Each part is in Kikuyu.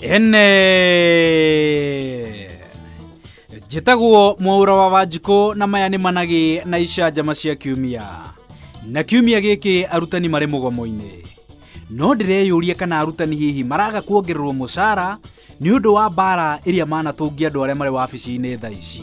ene njĩtagwo mwaura wa wanjikũ na maya nĩ managĩ na icanjama cia kiumia na kiumia gĩkĩ arutani marĩ mũgomo-inĩ no ndĩreyũria kana arutani hihi maraga kuongererwo mũcara nĩ ũndũ wa mbara ĩrĩa manatũngia andũ arĩa marĩ wabici-inĩ tha ici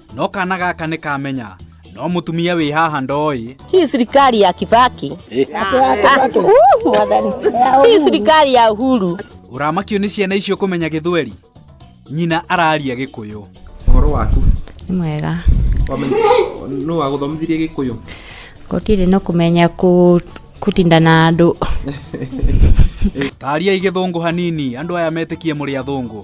no kana gaka nĩ kamenya no mũtumia wĩ haha ndoĩ Hii serikali ya Kibaki. Ah, uh, mwathani. Hii serikali ya Uhuru. ũramakio nĩ ciana icio kũmenya gĩthweri nyina araria gĩkũyũ Ũhoro waku? Nĩ mwega. Wamenya nũ wagũthomithirie gĩkũyũ? Gũtirĩ no kũmenya kũ- kũtinda na andũ. tariai gĩthũngũ hanini andũ aya metĩkie mũrĩ athũngũ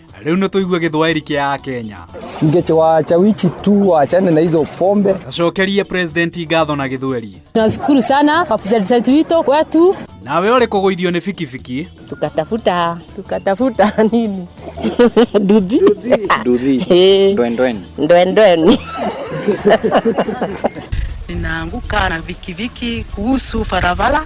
Rĩu nĩ tũigue gĩthwaĩri kĩa Akenya. Ngeche wacha wichi tu waachane na hizo pombe. Acokerie president ngatho na gĩthweri. Tunashukuru sana kwa president wito kwetu. Nawe ũrĩ kũgũithio nĩ bikibiki. Tukatafuta tukatafuta nini? Nduthi. Nduthi. Eh. Ndwen ndwen. Ndwen ndwen. Ninaanguka na vikiviki kuhusu barabara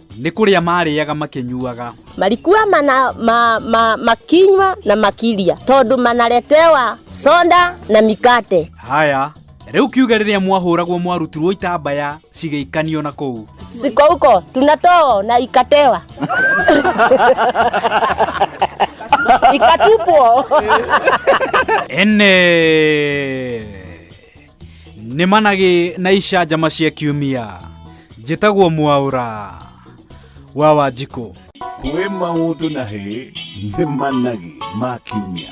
nĩ kũrĩa marĩaga makĩnyuaga marikua mana, ma, ma, makinywa na makiria tondũ manaretewa sonda na mikate haya rĩu kiuge rĩrĩa mwahũragwo mwarutirwo itambaya cigĩikanio na kũu siko huko tunatoa na ikatewa ikatupwo ene nĩ managĩ na icanjama cia kiumia njĩtagwo mwaũra wa wanjikũ kwĩ maũndũ na hĩ nĩ managĩ ma kiumia